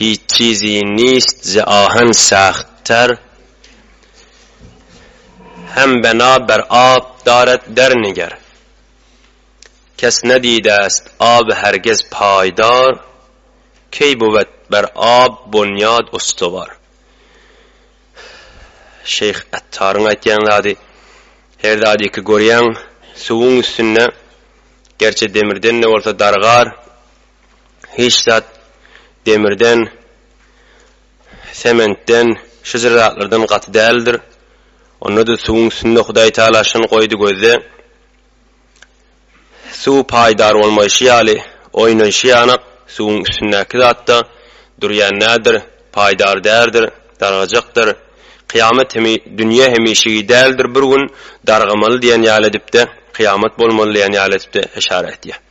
Hiçizi nist ze ahen sagt ter, hem bena ber ab daret der niger. Kes nedide est ab hergiz paýdar, key buwet ber ab bunyad ustuwar. Şeýh Ettaryň aýtýan zady, Her zady ki görýäň, suwuň üstünde, gerçe demirden-de bolsa dargar. hiç zat demirden, sementden, şu jyr zatlardan gaty däldir. Onda-da suwuň üstünde Hudaý Taala şuny goýdy gözde, suw paýdar bolmaýşy ýaly, oýnaýşy ýanak, suwuň üstündäki zat-da durýan däldir, paýdar däldir, dargajakdyr. Kyýamat hem, dünýe hemişegi däldir, bir gün dargamaly diýen ýaly edip-de, kyýamat bolmaly diýen ýaly edip-de işara etýär.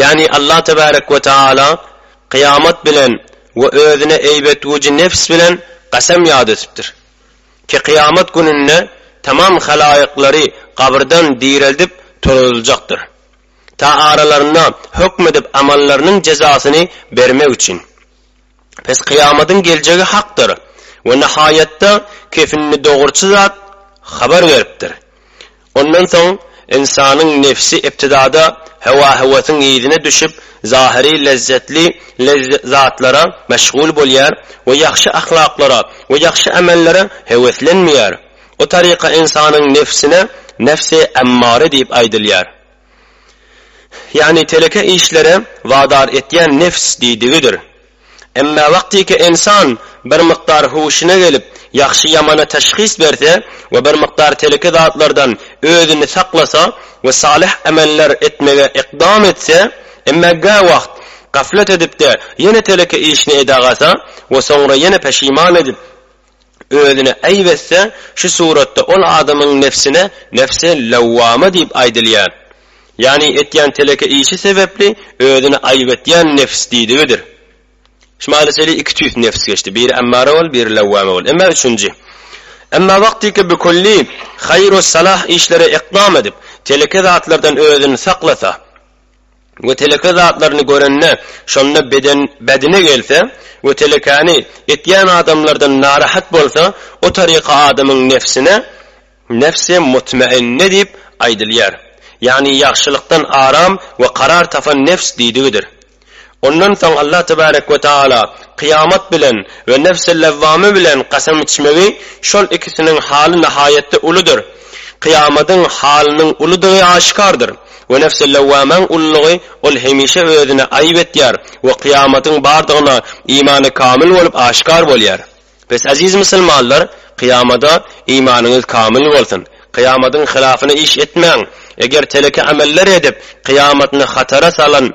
Ýagny Allah tebarek we taala kyýamat bilen we özüne eýbetgüji nebs bilen gasam ýat etipdir ki kyýamat gününde tamam halaýyklary gabyrdan direldip turuzyljakdyr ta aralarynda hökm edip amallarynyň jezasyny bermek üçin. Pes kyýamatyň geljegi hakdyr we nahaýatda kefinli dogurçy zat habar beripdir. Ondan soň ynsanyň nebsi ibtidada hewa-hewesyň yzyna düşüp, zahyry lezzetli zatlara meşgul bolýar we ýagşy ahlaklara we ýagşy amellere heweslenmeýär. O taryka ynsanyň nebsine nebsi emmare diýip aýdylýar. Ýagny teleke işlere wadar etýän nebs diýdigidir. Emma wagtyky ynsan bir mukdar huşuna gelip, ýagşy-ýamana teşhis berse we bir mukdar teleke zatlardan özüni saklasa we salyh emeller etmege ykdam etse, emma gäwagt gaflet edip-de ýene teleke işini edagasa we soňra ýene peşiman edip, özüne äýp etse, şu suratda ol adamyň nebsine nebsi lewwama diýip aýdylýar. Ýagny etýän teleke işi sebäpli özüni aýp etýän nebs diýdigidir. Şmali şeýle iki tüýs nebs geçdi, biri emmara bol, biri lewwama bol. Emma üçünji. Emma wagtyky bikulli haýru salah işlere ekdam edip, teleke zatlardan özüni saklasa, we teleke zatlaryny görende, şonda beden bädine gelse we telekäni etýän adamlardan narahat bolsa, o taryka adamyň nebsine nebsi mutmainne diýip aýdylýar. Ýagny ýagşylykdan aram we karar tapan nebs diýdigidir. Ondan soň Allah tebarek we taala kyýamat bilen we nefs-i lewwame bilen kasam içmegi şol ikisiniň haly nahaýatda uludyr. Kyýamadyň halynyň uludygy aşykardyr. We nefs-i lewwamäň ululygy ol hemişe özüne aýyp etýär we kyýamadyň bardygyna imany kamyl bolup aşykar bolýar. Bes aziz musulmanlar kyýamada imanyňyz kamyl bolsun. Kyýamadyň hylafyna iş etmäň. Eger teleke ameller edip kyýamatyny hatara salan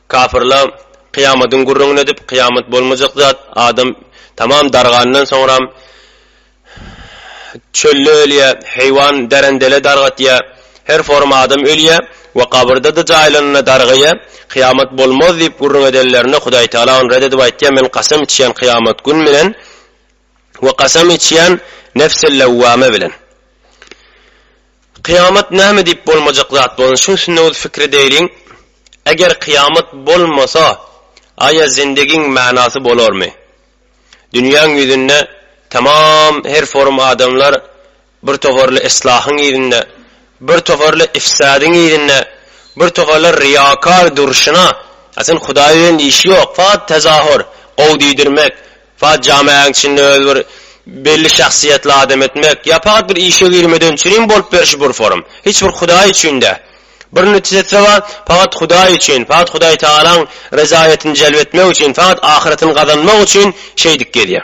Kapyrlar, Kyýamadyň gürrüňini edip, kyýamat bolmajak zat, adam tamam dargandan soňram, çölde ölýär, heýwan därendele dargatýar, her forum adam ölýär we gabyrda-da jaýlanynda dargaýar, kyýamat bolmaz diýip gürrüň edenlerinde Hudaýtagala ony ret edip aýtýar, Men kasam içýän kyýamat gün bilen, we kasam içýän Nefs-i Lewwame bilen. Kyýamat näme diýip bolmajak zat bolan şuň üstünde öz fikir edeýliň, Eger kyýamat bolmasa, aýa zindigiň manasy bolarmy? Dünýäň ýüzünde tamam her forum adamlar Bir toparly yslahyň yzynda, bir toparly yfsadyň yzynda, bir toparlar ryýakar durşuna, a sen Hudaý bilen işi ýok, fagt tezahur, gowy diýdirmek, fagt jamäň içinde özi bir belli şahsyýetli adam etmek, ýa fagt bir işe girmeden çürin bolup berşi bir forum. Hiç bir Hudaý üçin dä. Bir nütjesi bar, fagt Hudaý üçin, fagt Hudaýtagalaň rezaýatyny jelp etmek üçin, fagt ahyratyny gazanmak üçin şeýdip gezýär.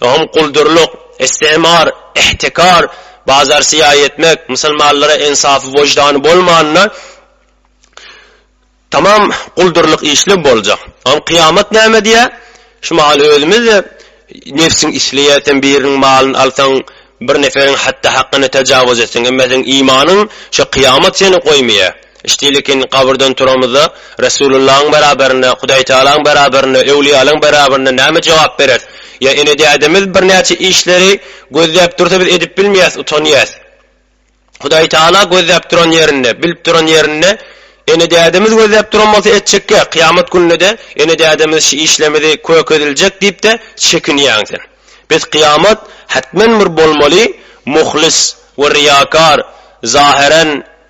Öňem guldurlyk, istimar, ihtikar, bazar syýaý etmek, musulmanlara ensafy wyždany bolmanda tamam guldurlyk işler boljak. Öňem kyýamat näme diýä? Şu mahaly özümiz-de nebsiň isleýä sen biriniň malyny alsaň, bir neferiň hatda hakyna tajawuz etseň, emma seň imanyň şu kyýamat seni goýmaýa. Şteýlekin gabyrdan turamyzda, Resulyllaň beraberinde, Hudaýtagalaň beraberinde, öwlüýälaň beraberinde näme jogap bereris? Ýa ene-dädemiz birnäçe işleri gözläp dursa biz edip bilmeýäs, utanýas. Hudaýtagala gözläp duran ýerinde, bilip duran ýerinde ene-dädemiz gözläp duran bolsa etjekkä, kyýamat gününede ene-dädemiz şi işlemidi kök ediljek diýipde çekinýäň sen. Biz kyýamat hetmen bir bolmaly muhlis we riýakar, zaheren,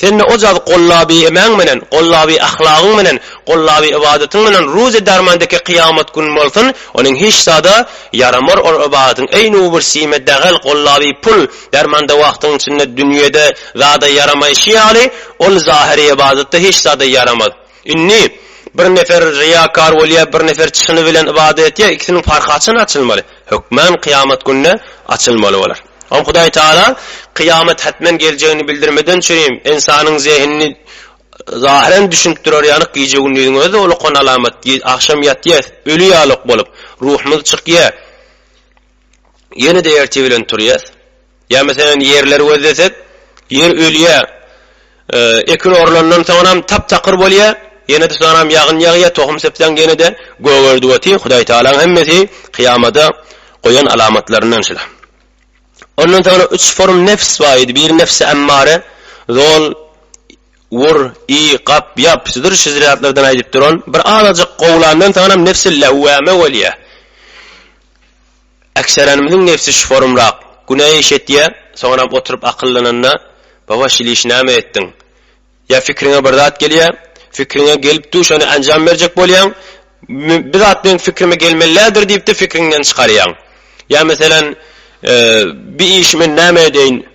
Sende o jady gollaby emäň menen, gollaby ahlagyň menen, gollaby ybadatyň menen ruz-e darman deke kyýamat gün bolsun, onuň hiç zada ýaramar ol ybadatyň eý nu bir sime dagel gollaby pul, darman da wagtyň içinde dünýede zada ýaramaýşy ýaly ol zahyry ybadatda hiç zada ýaramaz. Indi bir nefer ryýakar bolýa bir nefer çyny bilen ybadat etýa ikisiniň parhy haçan açylmaly? Hökman kyýamat günde açylmaly bolar. Ol Hudaý Tagala kyýamat hetmen geljegini bildirmeden çürim, ynsanyň zehinini zahyren düşündirer ýalyk gije-gündiziň özi ulukan alamat, agşam ýatýas, öli ýalok bolup, ruhumyz çykýa, ýene-de erte bilen turýas. Ýa meselem ýerleri gözlesek, ýer ölýä. Ekin orlandan soňanam tap-takyr bolýar. Ýene-de soňanam ýagyn ýagýar, tohum sepseň ýene-de gögerdi otyr. Hudaýtagalaň hemmesi kyýamada goýan alamatlaryndan şular. Ondan soňra üç form nebs bar idi. Biri nebsi emmare, zol, wur, iý, gap, ýap, şudur şu zatlardan aýdyp duran. Bir azajyk gowulandan soňanam nebsi lewwame bolýar. Ekserenimiziň nebsi şforumrak, günä iş etýä, soňaram oturyp akyllananda, Baba şil işi näme etdiň? Ýa fikriňe bir zat gelýä, fikriňe gelip dur şony anjam berjek bolýaň, bir zat meň fikrime gelmelilädir diýipdir fikriňden çykarýaň. Ýa meselem, bir işi men näme edeýin?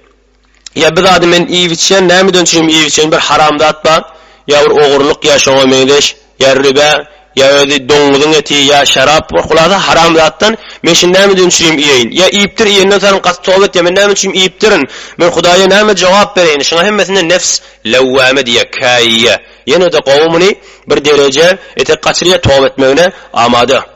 Ýa bir zady men iýip-içýän, nämeden çüým iýip-içýän, bir haram zat bar, ýa bir ogurlyk, ýa şoňa meňzeş, ýa ribä, ýa özi doňňuzyň eti, ýa şerap, bir hulasa haram zatdan, men şuny nämeden çüým iýeýin? Ýa iýipdir, iýenden soňam gaty toba etýän, men näme üçin iýipdirin? Men Hudaýa näme jogap bereýin? Şuňa hemmesine nefs lewwame diýýär, käýýär. Ýene-de gowy muny bir dereje etek gaçyrýar, toba etmegine amada.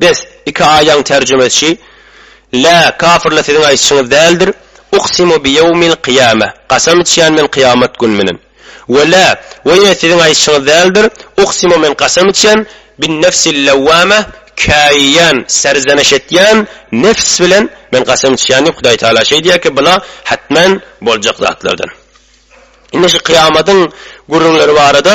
Bes, iki aýaň terjimesi, Lä, kafirler siziň aýtşyňyz däldir, uksimu bi ýewmil kyýameh, Gasam içýän men kyýamat gün bilen. We lä, we ýene siziň aýtşyňyz däldir, uksimu men gasam içýän, bin nefsil lewwameh, käýýän, serzeneş etýän, nefs bilen men gasam içýän diýip, Hudaý Tagala şeý diýýär ki, bular hetmen boljak zatlardan. Indi şu kyýamatyň gürrüňleri barada.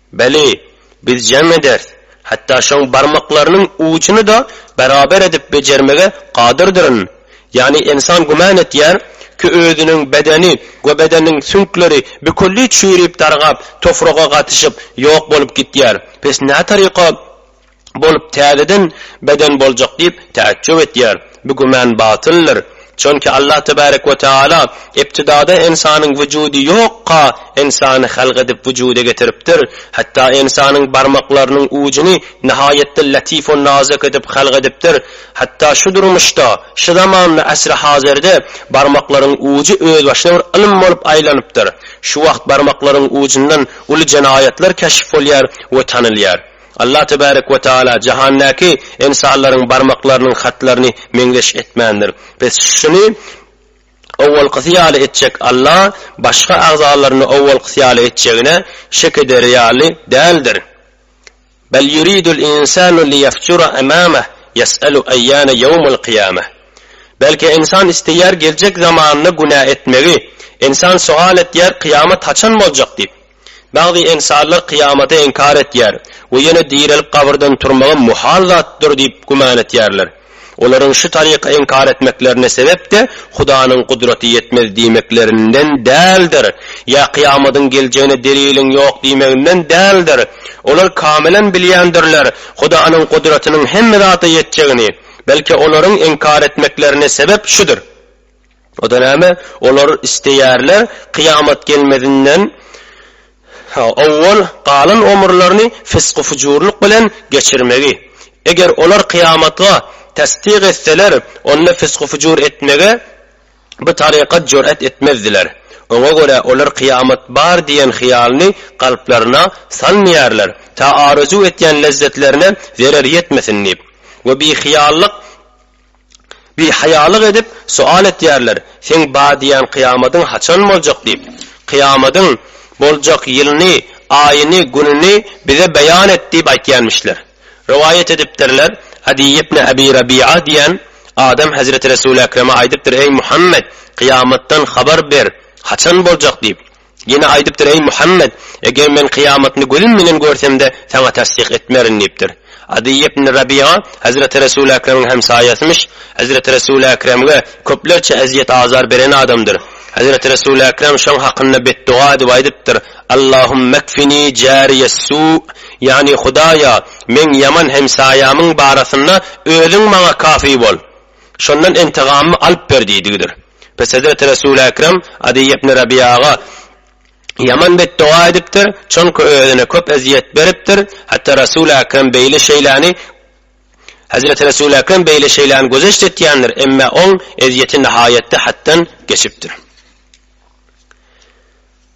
Beli, biz jam ederis, hatda şoň barmaklarynyň ujuny-da beraber edip bejermege kadyrdyrin. Ýagny ynsan güman etýär, ki özüniň bedeni we bedeniň süňkleri bikulli çüýrüp-dargap, tofraga gatyşyp, ýok bolup gitýär. Pes nätaryka? bolup täzeden beden boljak diýip täjjüp etýär. Bu güman batyldyr. Çünki Allah tebarek we taala ibtidada ynsanyň wujudy ýokka ynsany halk edip wujuda getiripdir, hatda ynsanyň barmaklarynyň ujuny nihaýatda latif we nazik edip halk edipdir, hatda şu durmuşda, şu zamanda asry hazirde barmaklaryň ujy özbaşyna bir ylym bolup aýlanypdyr. Şu wagt barmaklaryň ujundan uly jenaýatlar keşf bolýar we tanylýar. Allah tebärek we taala jahannäki ensanlaryň barmaklarynyň hatlaryny meňzeş etmändir. Biz şuny owalkysy ýaly etjek Allah başga agzalaryny owalkysy ýaly etjegine şek ederi ýaly däldir. Bel yuridul insanu liyafjura amamah yes'alu ayyana yawmul qiyamah. Belki ensan isleýär geljek zamanda günä etmegi, ensan sowal etýär kyýamat haçan boljak diýip. Bagty ensarlar kyýamaty inkar etýär we ýene direlip gabyrdan turmagam muhal zatdyr diýip güman etýärler. Olaryň şu taryka inkar etmeklerine sebep-de Hudanyň gudraty ýetmez diýmeklerinden däldir, ýa kyýamadyň geljegine deliliň ýok diýmeginden däldir. Olar kamilen bilýändirler Hudanyň gudratynyň hemme zada ýetjegini. Belki olaryň inkar etmeklerine sebep şudur. O-da näme? Olar isleýärler, kyýamat gelmezinden owwal galan omurlaryny fysgy-fujurlyk bilen geçirmegi. Eger olar kyýamatga tassyk etseler, onda fysgy-fujur etmege bu tarykat jür'at etmezdiler. Oňa görä olar kyýamat bar diýen hyýalyny kalplaryna salmaýarlar, ta arzuw etýän lezzetlerine zerer ýetmesin diýip. We bihyýallyk. Bihaýalyk edip, sual etýärler, Seň bar diýýän kyýamadyň haçan boljak diýip. Kyýamadyň boljak ýylyny, aýyny, gününi bize beýan et diýip aýtýanmişler. Rowaýat edipdirler, Adiý ibn Abi Rabiýa diýýän adam hezreti Resuly Ekreme aýdypdyr, Eý, Muhammet, kyýamatdan habar ber, haçan boljak diýip. Ýene aýdypdyr, Eý, Muhammet! Eger men kyýamatyny gözüm bilen görsem-de, saňa tassyk etmerin diýipdir. Adyý ibn Rabyýa hezreti Resul Ekremiň hemsaýasymyş, hezreti Resul Ekremge köplerçe ezýet-azar beren adamdyr. Hezreti Resul Ekrem şoň hakynda betduga edip aýdypdyr, Allahummakfini jariýessu, ýagny, Hudaýa, meň ýaman hemsaýamyň barasynda Özüň maňa kafy bol. Şondan intygamymy alyp ber diýdigidir. Pes hezreti Resul-i Ekrem Adiý ibn Rabiýaga ýaman betdoga edipdir, çonki özüne köp ezýet beripdir, hatda Resul-i Ekrem beýle şeýläni Hezreti Resul-i Ekrem beýle şeýläni gözeşt etýändir, emme oň ezýeti nihaýetde hatdan geçipdir.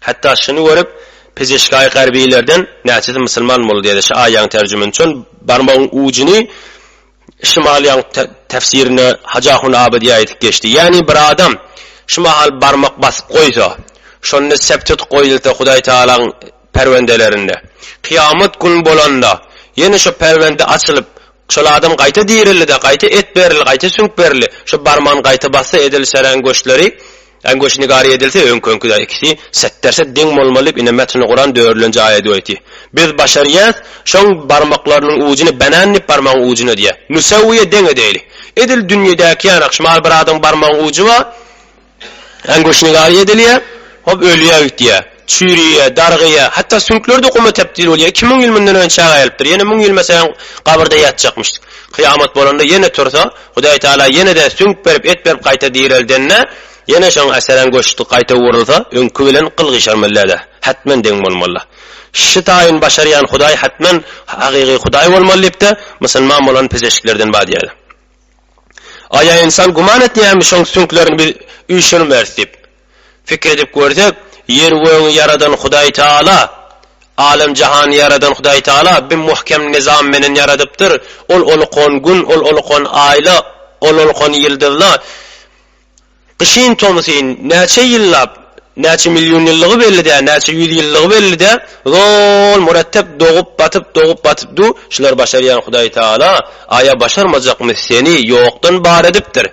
Hatda şuny görüp, Pejeşkaý garbilerden, näçesi musulman boldy diýdi. Şu aýaň terjimini üçin barmagyň ujuny Şymalyň täfsirine Hajahun Abydy aýdyp geçdi. Ýagny bir adam şu mahal barmak basyp goýsa, şonda septit goýulsa Hudaý Tagalaň perwendelerinde, kyýamat gün bolanda ýene şo perwende açylyp, şol adam gaýta dirildi-de, gaýta et berildi, gaýta süňk berildi, şo barmagyny gaýta bassa edil şeräň göçleri, Äňgoş nigary edilse öňküňkide ikisi setderset deň bolmaly diýip ine metni guran dörlenji aýady oýty. Biz başarýas şoň barmaklarynyň ujuny banan diýip barmagyň ujun edýä. Nusawyýe deň edeýli. Edil dünýedäki ýaly akşmal bir adam barmagyň uju bar. Äňgoş nigary edilýä. Hop ölýä gitýä. Çüýrýä, dargyýa. Hatda süňkleri-de guma tepdil bolýa. Iki müň ýyl mundan öň çaga gelipdir. Ýene müň ýyl meselem gabyrda ýatjakmyş. Kyýamat bolanda ýene tursa Hudaý Tagala ýene-de süňk berip, et berip gaýta direldende, ýene şoň äsgerän göçdi gaýta ugrulsa, öňki bilen gyl gyşarmallada, hätmen deň bolmalla. Şi taýyn başarýan Hudaý hätmen hakyky Hudaý bolmaly diýip-de, musulman bolan pezeşiklerden badýada. Aýa ynsan güman etýärmi şoň süňklerini biz üýşürmeris diýip. Pikir edip görsek, ýer gögüňi ýaradan Hudaý Taala, alem jahany ýaradan Hudaý Taala bi muhkem nyzam menen ýaradypdyr, ol oluq on gün, ol oluq on aýla, ol oluq on ýyldyzla, gyşyn tomsyn, näçe ýyllap, näçe million ýyllygy belli dä, näçe ýüz ýyllygy belli dä, zol murettep dogup batyp, dogup batyp du, şular başarýan Hudaý Taala, aýa başarmajakmy seni ýokdan bar edipdir,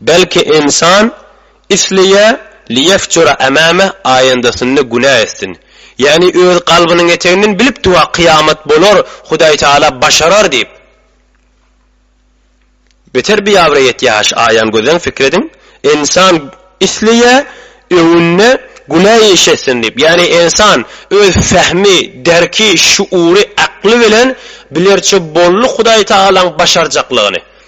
Belki ynsan isleýä Liýefjura ämäme aýandasynda günä etsin. Ýagny öz kalbynyň eteginden bilipdi-wah kyýamat bolar, Hudaý Taala başarar diýip. Beter biabra ýetýähaş aýan gözleň pikir ediň, ynsan isleýä öňünde günä iş etsin diýip. Ýagny ynsan öz fähmi, derki, şuury, akly bilen bilerçe boldy Hudaý Taalaň başarjaklygyny.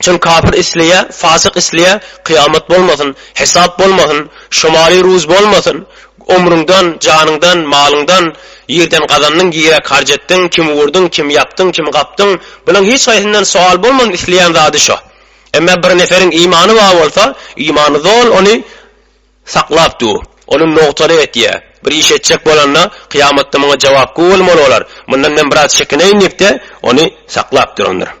Çyn kapyr isleýä, fasyk isleýä, kyýamat bolmasyn, hesap bolmasyn, şomary ruz bolmasyn, omrüňden, janyňdan, malyňdan, ýerden gazandyň, ýeräk harç etdiň, kim urdyň, kim ýapdyň, kim gapdyň, bulaň hiç haýsyndan sowal bolmasyn isleýän zady şo. Emma bir neferiň imany bar bolsa, imany zol ony saklap dur, ony nogtaly etýä, bir iş etjek bolanda, kyýamatda muňa jogap gowy bolmaly bolar, mundan men biraz çekineýin diýip-de, ony saklap durandyr.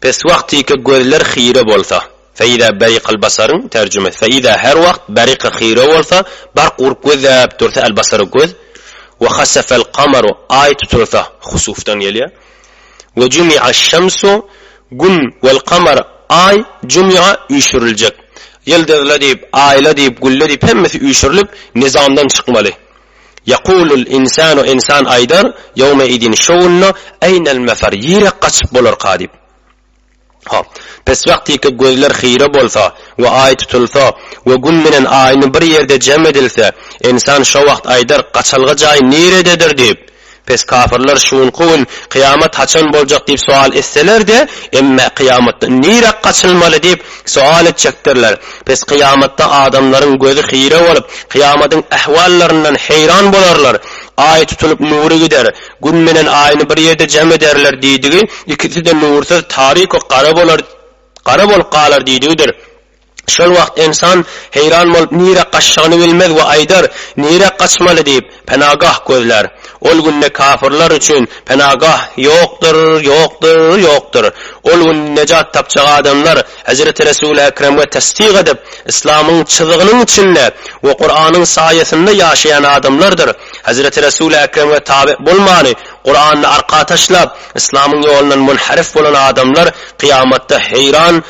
Pes wagt tike gözler hire bolsa, Feýza beriq al-basaryň, terjime, Feýza her wagt beriq hire bolsa, bark urup gözläp dursa al-basary göz, we hasafal kamaru aý tutulsa, husufdan gelýär, we jumiaş şamsu gün wal kamar aý jumia üýşüriljek, ýyldyzla diýip, aýla diýip, gülle diýip hemmesi üýşürilip nizamdan çykmaly. Ýakulul insanu insan aýdar, ýowmeidin şo günde, eýnel mefer, ýerek gaçyp bolarka diýip. Hop. Pes wagtyky gözler hire bolsa we aý tutulsa we gün bilen aýny bir ýerde jem edilse, insan şo wagt aýdar, gaçalga jaý nirededir diýip. Pes kafirler şu günki gün kyýamat haçan boljak diýip sowal etseler-de, emme kyýamatdan nirä gaçylmaly diýip sowal etjekdirler. Pes kyýamatda adamlaryň gözi hire bolup, kyýamatyň ähwallaryndan heýran bolarlar. Aý tutulyp nury gider. Gün menen aýny bir ýerde jem ederler diýdigi, ikisi-de nursyz, taryku gara bolar, gara bolup galar diýdigidir. Şol wagt ynsan heýran bolup nirä gaçjagyny bilmez we aýdar, Nirä gaçmaly diýip, penagah gözlär. Ol günde kafyrlar üçin penagah ýokdur, ýokdur, ýokdur. Ol günde nejat tapjak adamlar Hezreti Resuli Ekremge tessyk edip, yslamyň çyzygynyň içinde we Kuranyň saýasynda ýaşaýan adamlardyr. Hezreti Resuli Ekremge tabe bolmany, Kurany arka taşlap, yslamyň ýolundan munharif bolan adamlar kyýamatda heýran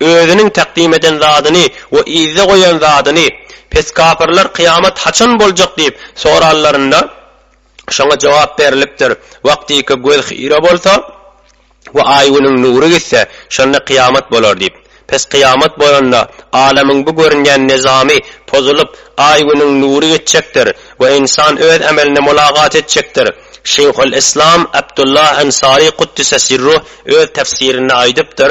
Özüniň takdim eden zadyny we yzda goýan zadyny, pes kapyrlar kyýamat haçan boljak diýip, soranlarynda, şoňa jogap berlipdir, Wagtyka göz hyýra bolsa we aý-günüň nury gitse, şonda kyýamat bolar diýip. Pes kyýamat bolanda, alamyň bu görünýän nyzamy pozulyp, aý-günüň nury gitjekdir we ynsan öz ämeline mulagat etjekdir. Şeýhul-Yslam Abdullah Ansary Kuddise Sirruh öz tefsirinde aýdypdyr,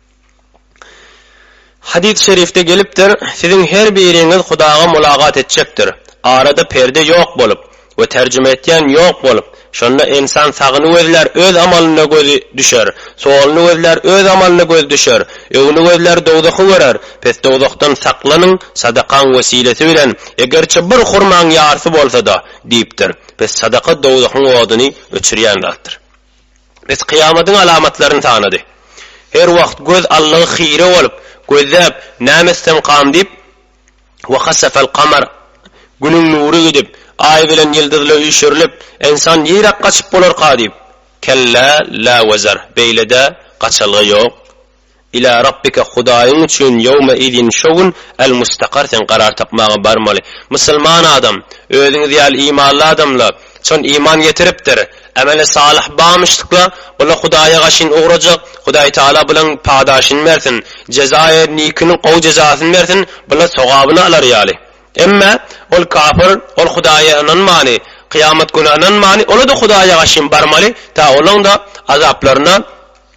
Hadys şerifde gelipdir, Siziň her biriňiz Hudaga mulagat etjekdir. Arada perde ýok bolup, we terjime etýän ýok bolup, şonda ynsan sagyny gözlär öz amalyna gözi düşer, soluny gözlär öz amalyna gözi düşer, öňüni gözlär dowzahy görer, pes dowzahdan saklanyň sadakaň wesilesi bilen, egerçe bir hurmaň ýarsy bolsada, diýipdir, pes sadaka dowzahyň oduny öçürýän zatdyr. Biz kyýamadyň alamatlaryny sanady. Her wagt göz allygy hire bolup, gözläp, näme etsem kam diýip, Ve hasafel kamar, Günüň nury gidip, Aý bilen ýyldyzla üýşürilip, ynsan niräk gaçyp bolarka diýip, Kellä lä wezar, beýle-dä, gaçalga ýok. Ilâ Rabbike Hudaýyň üçin ýewme izin şo gün el mustakar sen garar tapmaga barmaly. Musulman adam, özüňiz ýaly imanly adamla, çyn iman getiripdir, emeli salyh bamyşdykla, bula Hudaýa gaşyn ugrajak, Hudaý Taala bulaň padaşyny bersin, jezaýy nikini gowy jezasyny bersin, bula sogabyny alar ýaly. Emme, ol kafir, ol Hudaýa ynanmany, kyýamat güne ynanmany, ola-da Hudaýa gaşyn barmaly, ta olaň-da azaplaryna,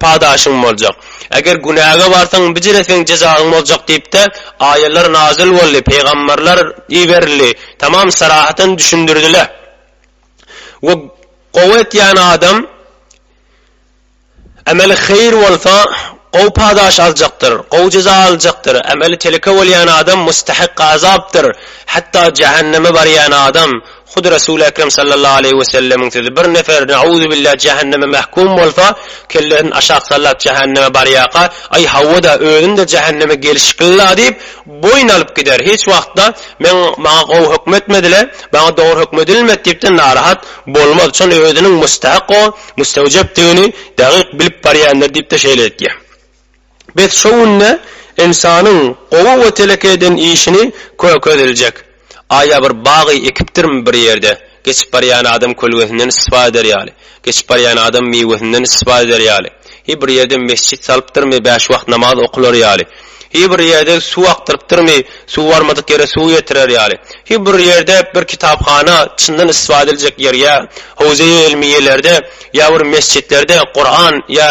Padaşyň boljak. Eger günäge barsaň, bijire seň jezaň boljak diýip-de, aýalar nazyl boldy, pygamberler iberildi, tamam sarahatan düşündirdiler. We gowy etýän adam emeli heýir bolsa, gowy padaş aljakdyr, gowy jeza aljakdyr, emeli teleke bolýan adam mustahak azapdyr, hatda jähenneme barýan adam, Hudy Resul-i Ekrem sallallahu aleýhi we sellemiň sözi, Bir nefer, ne'uzubillah, jähenneme mähkum bolsa, kellesini aşak sallap jähenneme barýarka, Aý, hawa-da, özüm-de jähenneme gelşikli-la diýip, boýun alyp gider. Hiç wagt-da, Men, maňa gowy hökm etmediler, maňa dogry hökm edilmedi diýip-de narahat bolmaz. Şol özüniň mustahak, o, mustewjepdigini dagyk bilip barýandyr diýip-de şeýle etýär. Biz şo günde ynsanyň gowy we teleke eden işini köke ediljek. Aýa bir bagy ekipdirmi bir ýerde? Geçip barýan adam kölgesinden istifade eder ýaly, geçip barýan adam miwesinden istifade eder ýaly, hi bir ýerde mesjit salypdyrmy bäş wagt namaz okular ýaly, hi bir ýerde suw akdyrypdyrmy suw barmadyk ýere suw ýetirer ýaly, hi bir ýerde bir kitaphana çyndan istifade ediljek ýer ýa howza-i ilmiýelerde ýa bir mesjitlerde Kuran ýa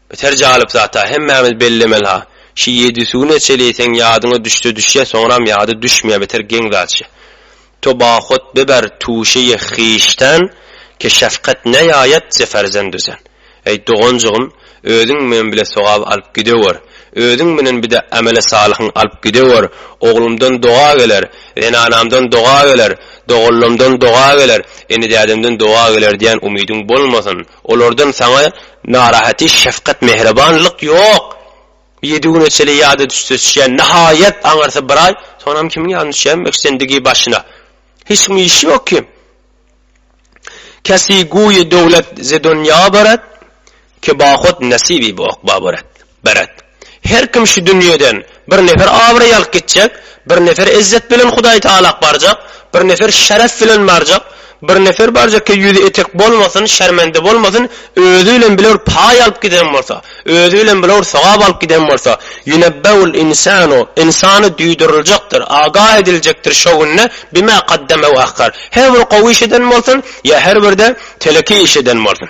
Biter jalyp zat-a, hemmämiz bellemeli-ha. Şu ýedi suwy neçeli iýseň, ýadyňa düşse düşýä, soňram ýady düşmeýä biter geň zatça. To bahot beber tuşe-i hişten ke şefkat neýaýat ze ferzendu zen. Eý, doganjygym, özüň men bile sogap alyp gidewer. Özüň bilen bir-de emele salyhyň alyp gidewer. Oglumdan doga geler, zenanamdan doga geler, dogallamdan doga geler, ini-dädemden doga geler diýen umydyň bolmasyn. Olardan saňa narahaty, şefkat, mähribanlyk ýok. Ýedi güne çenli ýada düşüşýän, nahaýat, aňyrsa bir aý, soňam kimiň ýadyna düşýämiň ekşendigi başyna. Hiç kimiň işi ýok kim. Käsi guýy döwlet ze donýa barat, ke bahut nesibi bu okba barat. Beret. Her kim şu dünýeden bir nefer abraý alyp gitjek, bir nefer izzet bilen Hudaý Tagalak barjak, bir nefer şeref bilen barjak, bir nefer barjak ki ýüzi etek bolmasyn, şermende bolmasyn, özi bilen bilewr paý alyp giden bolsa, özi bilen bilewr sogap alyp giden bolsa, ýunebbeul insanu, insana duýduryljekdir, agah ediljekdir şo günde, bima gaddeme we ahhar, her bir gowy iş eden bolsun, ýa her bir-de teleki iş eden bolsun.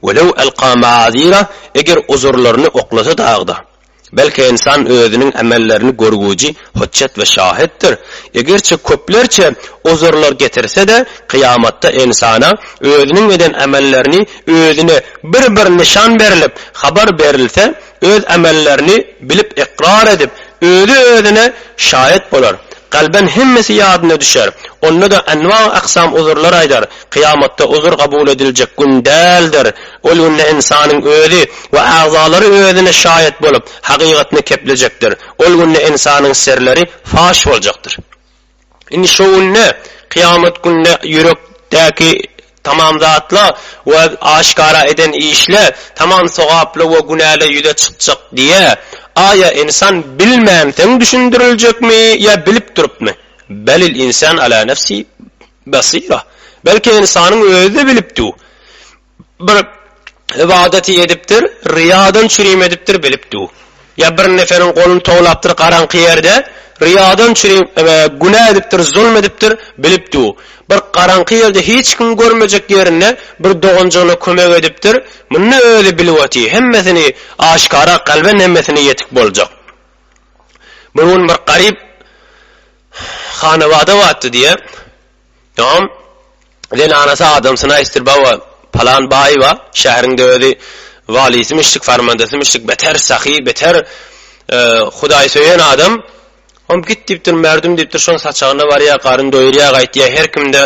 Welew elqa maazira, eger uzurlaryny oklasa dagda. Belki ynsan özüniň emellerini görgüji, hujjet we şahitdir. Egerçe köplerçe uzurlar getirse-de, kyýamatda ynsana özüniň eden emellerini özüne bir-bir nyşan berlip, habar berilse, Öz emellerini bilip ykrar edip, özi özüne şaýat bolar. Kalben hemmesi ýadyna düşer. Onda-da enwa aksam uzurlar aýdar. Kyýamatda uzur kabul ediljek gün däldir. Ol günde ynsanyň özi we agzalary özüne şaýat bolup, hakykatyny keplejekdir. Ol günde ynsanyň serleri faş boljakdyr. Indi şo günde, kyýamat günde ýürekdäki tamam zatlar we aşgara eden işler tamam sogaply we günäler ýüze çykjak diýe. Aýa ynsan bilmänsoň düşündiriljekmi ýa bilip durupmy? Belil insan ala nefsi basira. Belki ynsanyň özi-de bilipdi. bir ybadaty edipdir, ryýadan çürim edipdir, bilip du. Ýa bir neferiň goluny towlapdyr garaňky ýerde, ryýadan çürim, günä edipdir, zulm edipdir, bilip du. Bir garaňky ýerde hiç kim görmejek ýerinde bir doganjygyna kömek edipdir, muny özi bilip oty, hemmesini aşkara kalbe nemmesine ýetik boljak. Bir gün bir garyp hanabada batdy diýe. Ýoňam zenanasy adamsyny aýtdyr baba palan baýyba şäheriňde özi walisymyşdyk farmandasymyşdyk beter sahy beter hudaý söýen adam ýoňam git diýipdir merdum diýipdir şoň saçagyna barýa garyn doýurýa gaýtýa herkimde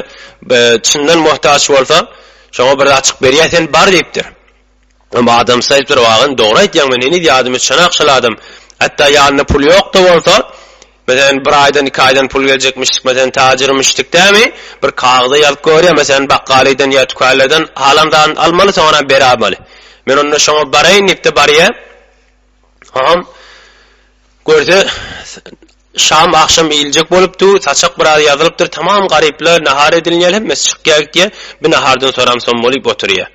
çyndan mohtaç bolsa şoňa bir zat çykyp berýä sen bar diýipdir. Emma adamsy aýdypdyr, Wagan, dogry aýdýaň, men heniz ýadymy çanak çaladym. Hatda ýanynda pul ýok-da bolsa, meselem, bir aýdan, iki aýdan pul geljekmişdik, meselem, tajyrymyşdyk dämi, bir kagyza ýazyp goýarýa, meselem, bakgalydan ýa tükänlerden halan zadyny almaly, soňra berermeli. Men onda şoňa baraýyn diýip-de barýa. Hom, görse, Şam agşam iýiljek bolup dur, saçak biraz ýazylypdyr, tamam garyplar, nahar edilýär, hemmesi çykýar gitýär, bir nahardan soramsam bolup oturýar.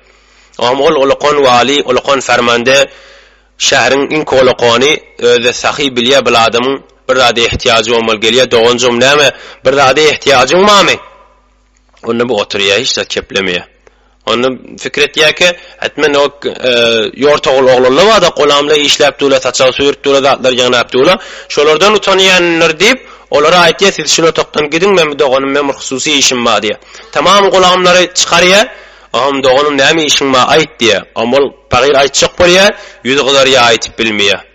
Ogam ol olakan waly, olakan fermande, şäheriň iňki olakany, özi-de sahy bilýär bil adamyň bir zada ehtiýajy bolmaly gelýär, doganjygym näme, bir zada ehtiýajyň barmy? Onda bu oturýar, hiç zat keplemeýär. Onda fikir etýärkä, et men o ýortagul oglanlar bar-da, golamlar işläp durlar, saçak süýrüp durlar, zatlar ýygnap durlar. Şolardan utanýandyr diýip, olara aýtýar, siz şul otagdan gidiň, men bu doganym bilen bir hususy işim bar diýýär. Tamam gulagymlary çykarýar. Ogam, doganym, näme işiň bar, aýt diýýär. Ogam ol pahyr aýtjak bolýar, ýüzi gyzarýar, aýdyp bilmeýär.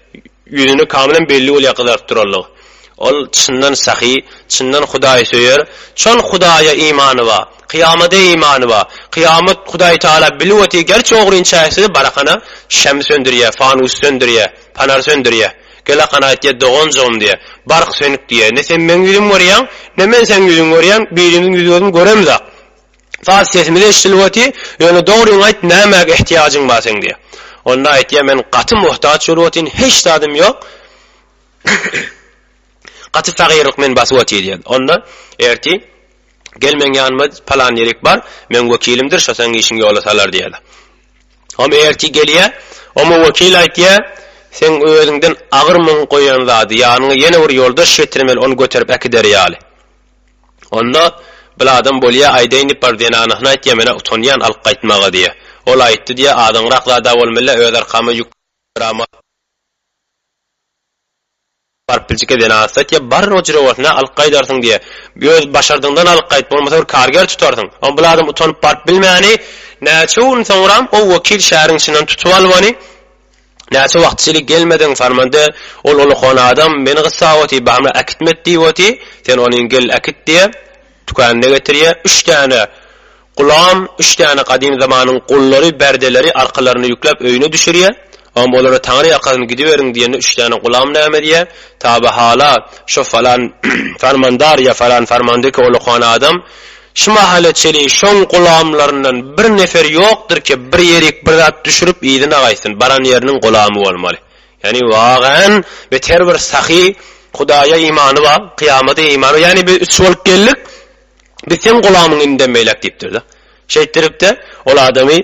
Ýüzüne kamalam belli bolýar gyzaryp duranlygy. Ol çyndan sahy, çyndan hudaýsöýer, çyn Hudaýa imany bar, kyýamada imany bar. Kyýamat Hudaý Tagala bilip otyr, gerçi ogry inçäsi barakana şäm söndürýär, fanus söndürýär, panar söndürýär. Gelakan aýtýar, doganjygym diýýär, bark sönük diýýär, ne sen meň ýüzümi görýäň, ne men seň ýüzüňi görýän, birimiziň ýüz-gözüni göremzok. Saz sesimiz eşidilip oty, ýöne dogryňy aýt nämäge ehtiýajyň bar seň diýýä. Onda aýtýa men gaty muhtaç bolup otyn hiç zadym ýok gaty fagyrlyk meni basyp oty diýýä. Onda erti gel meň ýanyma palan ýerik bar meň wekilimdir şo seň işiň ýola salar diýýä. Om erti gelýä oma wekil aýtýa seň özüňden agyr muň goýan zady ýanyňa ýene bir ýoldaş getirmeli ony göterip äkider ýaly. Onda, bil adam bolýa aýdaýyn diýip bar zenanasyna aýt ýa menä utanýan alyp gaýtmaga diýe. Ol aýtdy diýe azaňrak zada bolmylla öz arkama ýük ýaramaz. Baryp biljike zenanasyna aýt ýa bar ojire bolsuna alyp gaýdarsyň diýe. Öz başardygyňdan alyp gaýt bolmasa bir karger tutarsyň. Ol bil adam utanyp baryp bilmäni näçe gün soňram o wekil şäheriň içinden tutup alybany. Näçe wagt çili gelmediň Farmande, ol ulukhan adam meni gyssap oty, bamla äkitmet diýip oty, sen onyn gel äkit diýe, tükänine getirýä, üç däne Gulam, üç däne gadym zamanyň gullary, berdeleri arkalaryna ýükläp öýüne düşürýä, onb olara Taňry ýakasyn gidiberiň diýende üç däne Gulam näme edýä, tabi hala, şo falan Farmandar ýa falan Farmandeki ulukhan adam, Şu mahala çenli şoň gulamlaryndan bir nefer ýokdur ki, bir ýerik bir zat düşürip yzyna gaýtsyn, baran ýeriniň gulamy bolmaly. Ýagny wagan bet her bir sahy Hudaýa imany bar, kyýamada imany bar. Ýagny biz üç bolup geldik, biz seň gulamyň indem beýläk diýipdir-de. Şeýtdirip-de ol adamy.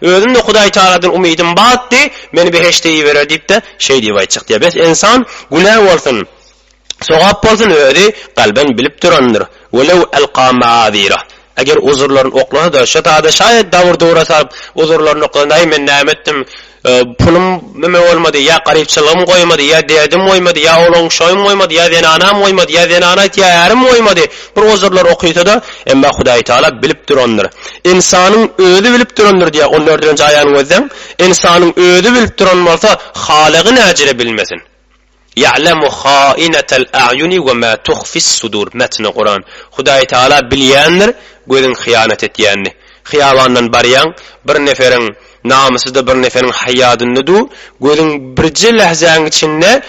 Özüm-de Hudaýtagaladan umydym batdy, meni behişde iberer diýip-de şeý diýip aýtjak diýýär. Bes, ynsan günä bolsun, sogap bolsun, özi kalben bilip durandyr. Welew elqa maazirah. Eger uzurlaryn oklasa-da, şo zada şaýat dabur dura salyp, uzurlaryny oklasa, Näý, men näme etdim? Pulum neme bolmady, ýa garypçylygym goýmady, ýa derdim goýmady, ýa oglan-uşagym goýmady, ýa zenanam goýmady, ýa zenana aýt, ýa ärim goýmady. Prozorlar okysada, emma Hudaý Taala bilip durandyr. Ynsanyň özi bilip durandyr diýýär, on dördünji aýany gözleň, ynsanyň özi bilip duran bolsa, halygy näcire bilmesin. Ýa'lemu hainatal a'ýuni we ma tuhfis sudur, metni Kuran. Hudaý Taala bilýändir, gözüň hyýanat etýänini. Hyýabandan barýaň, bir neferiň Namysy-da bir neseniň haýýadynda du, gözüň birje lähzäň içinde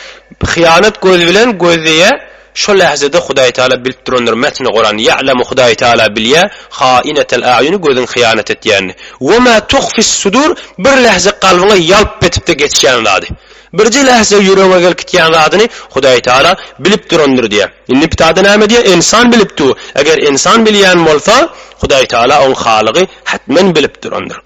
hyýanat göz bilen göz deýä, şo lähzede Hudaýtagala bilip durandyr, metni Kuran, Ýa'lemu Hudaýtagala bilýä, haýinetel a'ýuni göziň hyýanat etýänini, we ma tuhfis sudur bir lähze kalbyňa ýalp etipde geçýän zady, birje lähze ýüregiňe gelkitýän zadyny Hudaýtagala bilip durandyr diýä. Indi Ptada näme diýä, Ensan bilip du, eger ensan bilýän bolsa, Hudaýtagala oň halygy hatmen bilip durandyr.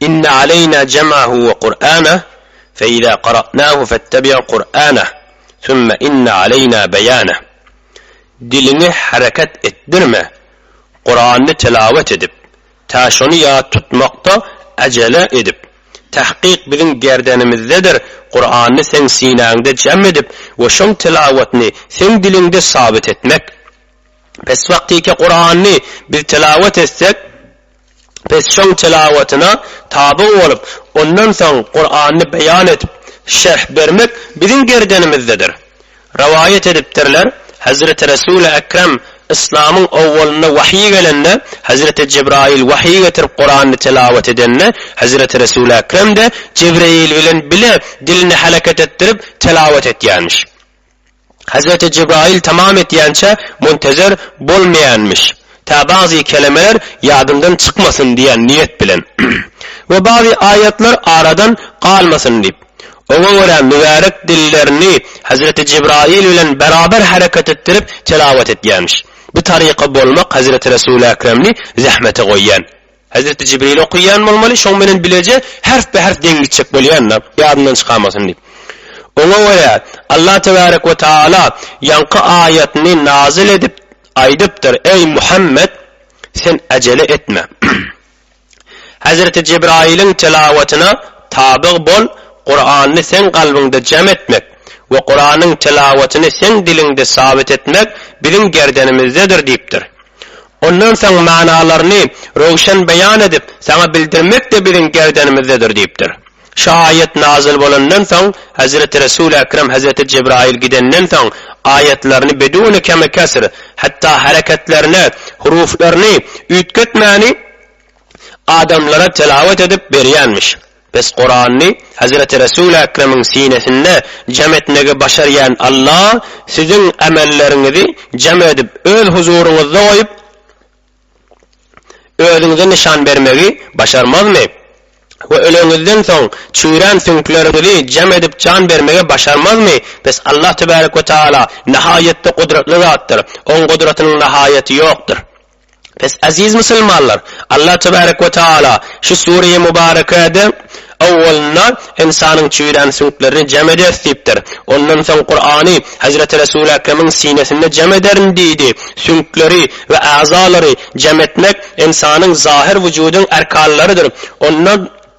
Inne aleýna jem'ahu we Kur'ana fe iza qara'nahu fettabi' Kur'ana sümme inne aleýna beýana. Diliňi hereket etdirme, Kur'any tilawet edip, tä şony ýat tutmakda ajele edip, tahkyk biziň gerdenimizdedir, Kur'any seň sinäňde jem edip we şoň tilawatyny seň diliňde sabyt etmek. Pes wagtyky Kur'any biz tilawet etsek, Biz şoň telawatyna taby bolup, ondan soň Kurany beýan edip, şerh bermek biziň gerdenimizdedir. Rowaýat edipdirler, Hezreti Resuli Ekrem, Yslamyň owwalynda wahyý gelende, Hezreti Jebraýyl wahyý getirip Kurany telawat edende, Hezreti Resuli Ekrem-de Jebreýil bilen bile dilini hereket etdirip telawat etýärmiş. Hezreti Jebraýyl tamam etýänçä muntezer bolmaýanmyş, tä bagzy kelemeler ýadyndan çykmasyn diýen niýet bilen we bagzy aýatlar aradan galmasyn diýip. Oňa görä mübärek dillerini Hezreti Jebraýyl bilen beraber hereket etdirip telawat etýänmiş. Bu taryka bolmak Hezreti Resulü Ekremni zähmete goýýan. Hezreti Jibril okaýan bolmaly, şoň bilen bileje herpbe-herp deň gitjek bolýan-da, ýadyndan çykamasyn diýip. Oňa görä, Allah tebarek we taala ýaňky aýatyny nazyl edip, aýdypdyr, Eý, Muhammet! Sen äjele etme. Hezreti Jibrailiň tilawatyna tabyg bol, Kurany seň kalbyňda jem etmek we Kuranyň tilawatyny seň diliňde sabit etmek biziň gerdenimizdedir diýipdir. Ondan soň manalaryny röwşen beýan edip, saňa bildirmek-de biziň gerdenimizdedir diýipdir. Şu aýat nazil bolandan soň, Hezreti Resul-i Ekrem Hezreti Jebraýyl gidenden soň, aýatlaryny bedûni kemi kesr, hatda hereketlerini, huruflaryny üýtgetmäni adamlara telawat edip berýänmiş. Biz Kurany Hezreti Resul Ekremiň sinesinde jam etmegi başarýan Alla siziň amelleriňizi jam edip öz huzuryňyzda goýup özüňize nyşan bermegi başarmazmy? We öleňizden soň çüýrän süňkleriňizi jam edip jan bermegi başarmazmy? Bes Alla Tebarek we Taala nahaýatda gudratly zatdyr, Oň gudratynyň nahaýaty ýokdur. Bes, eziz musulmanlar! Allah tebärek we taala şu sure-i mübärekäde owwalynda ynsanyň çüýrän süňklerini jem ederis diýipdir. Ondan soň Kurany Hezreti Resul-i Ekremiň sinesinde jem ederin diýdi. Süňkleri we äzalary jem etmek ynsanyň zahir wujudyň erkanlarydyr. Ondan.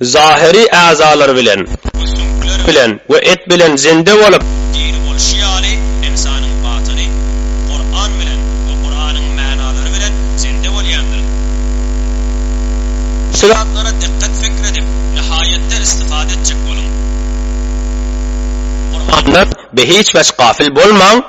Zahyry äzalar bilen, süňkler bilen we et bilen zinde bolup, diri bolşy ýaly, ynsanyň batyny Kuran bilen we Kuranyň mänalary bilen zinde bolýandyr. Şu zatlara dikkat fikr edip, nihaýetde istifade etjek boluň. Kurandan be hiç wagt gafil bolmaň.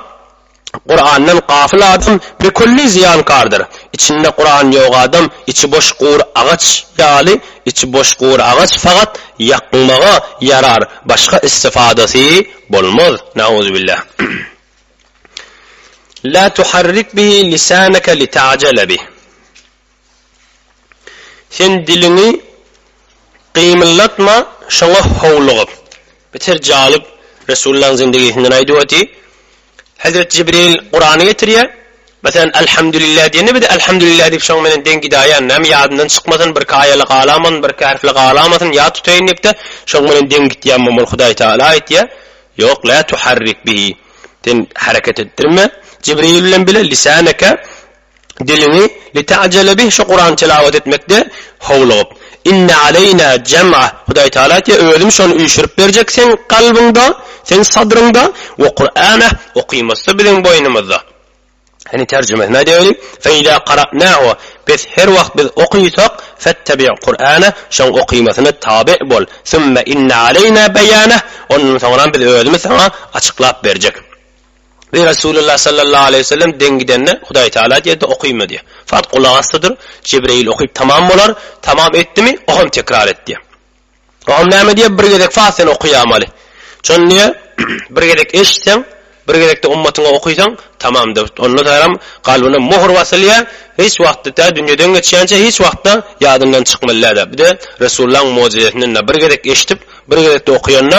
Kurandan gafyl adam bikülli zyýankardyr. Içinde Kuran ýok adam içi boş gur agaç ýaly, içi boş gur agaç fakat ýakmaga ýarar başga istifadasy bolmaz. Nauzubillah. La tuharrik bihi lisanaka lita'jele bih. Sen diliňi gymyldatma şoňa howlugyp. Beter jalyp Resullaň zindigisinden aýdyp oty. Hezret Jibril Kurany getirýä. Meselem Elhamdulillah diýende biz Elhamdulillah diýip şoň menen deň gidaýan. Näme ýadyndan çykmasyn birki aýaly galamasyn birki herfli galamasyn ýat tutaýyn diýipde şoň menen deň gitýämem ol Hudaý Taala aýtýa Ýok la tuharrik bihi. Sen hereket etdirme Jibril bilen bile lisaneke. diliňi lita'jele bih şu Kurany tilawet etmekde howlugyp. Inne aleýna jem'ah Hudaý Tagala aýtýar, Özüm şony üýşürip berjek seň kalbyňda, seň sadryňda, we Kur'anah okymasy biziň boýnumyzda. Ine terjimesini aýdaýeli, Fe iza kara'nahu Pes her wagt biz okysak, fettabi' Kur'anah şoň okymasyna tabe' bol, sümme inne aleýna beýanah Ondan soňram biz özümiz saňa açyklap berjek. Ey Resulallah sallallahu aleýhi we sellem deň gidende Hudaý Taala diýerdi, Okyma diýer. Fakt gulak asdydyr, Jibreýil okyp tamam bolar, tamam etdimi, oňam tekrar et diýer. Oňam näme diýer, bir gezek fakt sen okaýamaly. Şony diýer, bir gezek eşitseň, bir gezekde ummatyňa okysaň, tamamdyr. Onda saňam kalbyna mohr basylýar, hiç wagtda tä dünýeden geçýänçä hiç wagtda ýadyndan çykmaly däl. Bir-de Resulullahyň mojizesinden bir gezek eşidip, bir gezekde okaýanda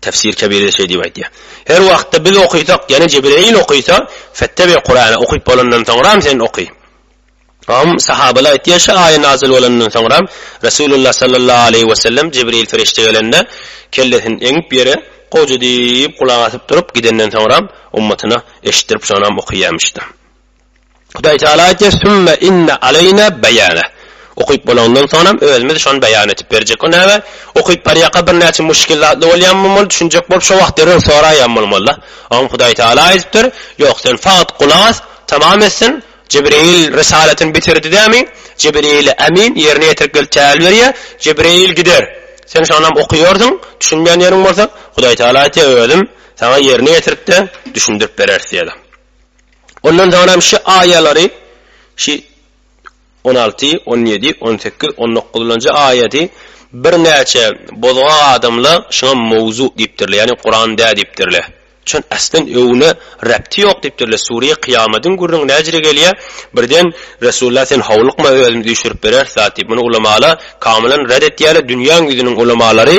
Tefsir Kebirde şeý diýip aýtýar, Her wagtda biz okysak, ýene Jibreýil okysa, Fettebir Kurany okyp bolandan soňram sen oky. Hom, sahabalar aýtýar, şu aýa nazil bolandan soňram, Resulullah sallallahu aleýhi wesellem Jibreýil perişde gelende, kellesini eňip ýere, Goja diýip gulak asyp durup, gidenden soňram, ummatyna eşitdirip şonam okyýarmyşda. Hudaý Tagala aýtýar, Sümme inne aleýne beýane. Okyp bolanyndan soňam özümiz şony beýan edip berjek. O näme? Okyp barýaka birnäçe muşkil zatly bolýan bolmaly, düşünjek bolup şo wagt derrew soraýan bolmaly-da. Oňa Hudaý Tagala aýdypdyr, Ýok, sen fagt gulak as, tamam etsin, Jibril risalatyny bitirdi dämi, Jibrili Emin ýerine ýetirip gelip täl berýär, Jibril gider. Sen şonam okaýarsyň, düşünmeýän ýeriň bolsa, Hudaý Tagala aýtýar, Özüm saňa ýerine ýetirip-de düşündirip bereris diýýär-de. Ondan soňram şu aýalary, şu on alty, on ýedi, on sekiz, on dokuzlanjy aýaty birnäçe bozgak adamlar şuňa mowzu diýipdirler, ýagny Kuran däl diýipdirler. Şuň aslan öwne rebti ýok diýipdirler. Sure Kyýamadyň gürrüňi näjire gelýär? Birden Resulullah sen howlukma özümiz üýşürip bereris zat diýip, muny ulamalar kamylan red etýärler, dünýäň ýüzüniň ulamalary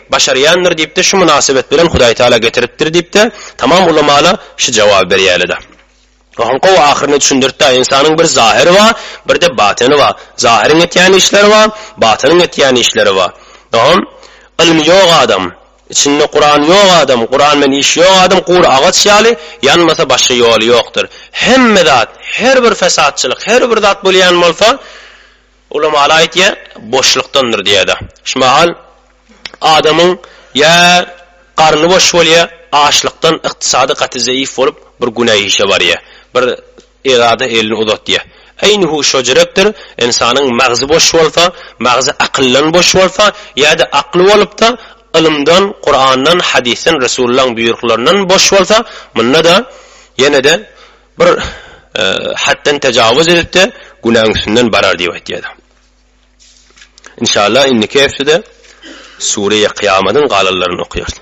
Başarýandyr diýipde şu mynasybet bilen Hudaý Taala getiripdir diýipde tamam ulamala şu jawaby berýälida. Ohan gowy ahyryny düşündirtda ynsanyň bir zahyry ba birde batyny ba zahyryň etýän işleri ba batynyň etýän işleri ba ohan ylmy ýok adam içinde Kuran ýok adam Kuran bilen işi ýok adam gury agaç ýaly ýanmasa başga ýoly ýokdyr hemme zat her bir fesatçylyk her bir zat bolýan bolsa Ulamalar aýtýar, boşlukdandyr diýýärler. Şu mahal adamyň ýa garny boş bolýar, açlykdan, ykdysady gaty zeýif bolup, bir günä işe barýar. Bir erzada elini uzatýar. Eýni-hu şo jürekdir, ynsanyň magzy boş bolsa, magzy akyldan boş bolsa, ýa-da akly bolup-da, ylymdan, Kurandan, hadysdan, Resulylaň buýruklaryndan boş bolsa, munda-da, ýene-de, Bir hatdan tajawuz edipdi, günäň üstünden barar diýip aýtýardy. Inşallah indiki hepdede Sureýe Kyýamadyň galanlaryny okaýarys.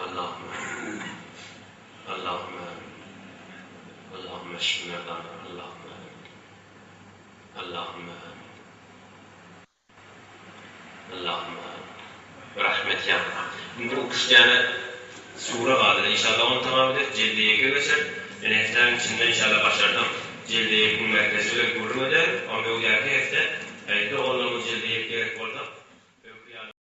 Allahümme amin. Allahümme amin. Allahümme eşfi merdana Allahümme amin. Allahümme amin. Allahümme amin. Rahmet ýa Allah. Indi ukyş däne sura galdy. Inşallah ony tamam ederis. Jelde ýeke geçer. Ine hepdäniň içinde inşallah başardam. Jelde ýekiň merkezi bilen gürrüň ederin. Ony öňdäki hepde. Häzirki oglanyň jelde ýek gerek bolsa.